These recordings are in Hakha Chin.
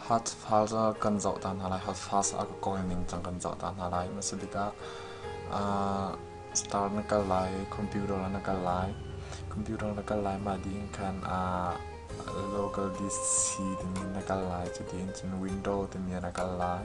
Hatfaz ah kan zoh ta hna lai. Hatfaz ah kawi ningcang kan zoh ta hna lai. Hmasa bik ah star na kal lai, computer na kal lai. Computer na kal lai, mah ding khan local DC timi na kal lai. Cuti in cun window timi na kal lai.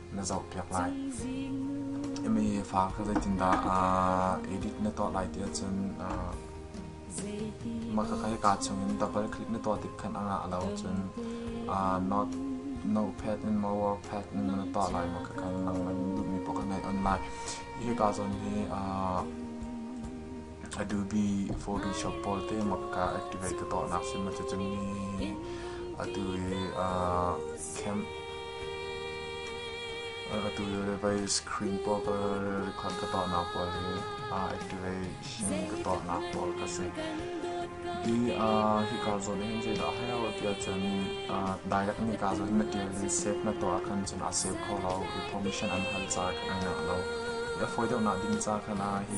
na zohpiak lai imi fa ka zeitindah edit na tuah lai ti ahcun mah ka kai ka chungin double click na tuah tik khan anga lo cun not notepad in mower pad in na tuah lai ma ka kai lang man duhmi poka ngai online hi ka zon hi Adobe Photoshop pawl te makka activate ka tuahnak sim a si cang mi atu i uh, cam atu le vai screen pawl ka record ka tuahnak pawl hi uh, activation ka tuahnak pawl ka si di uh, hi ka zon hin je da hayo ti chun uh, direct ni ka zon material hi save na to akhan chun a save kho lo information an hal cha kan na lo ya foi deu na din cha khana hi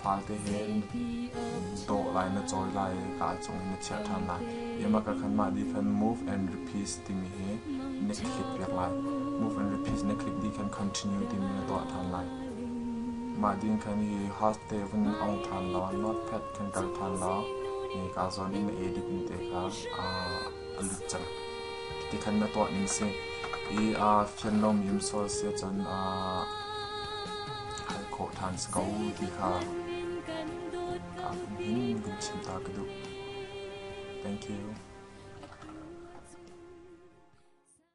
Fate he in dawh lai na cawi lai i ka cung in na chiah ṭhan lai. Yamaka mah dikhan move and repeat timi hi na click piak lai. Move and repeat na click dikhan continue timi na tuah ṭhan lai. Mah dikhan hi haste vun ong ṭhan law notepad kan kal ṭhan law ni ka zawn in na edit ni te kha a lut cang. Ti khan na tuah ning si. I aa fian lomi sual si ahcun aa hal khawh ṭhan si ko ti kha aa hin kan chim ta ka duh. Thank you.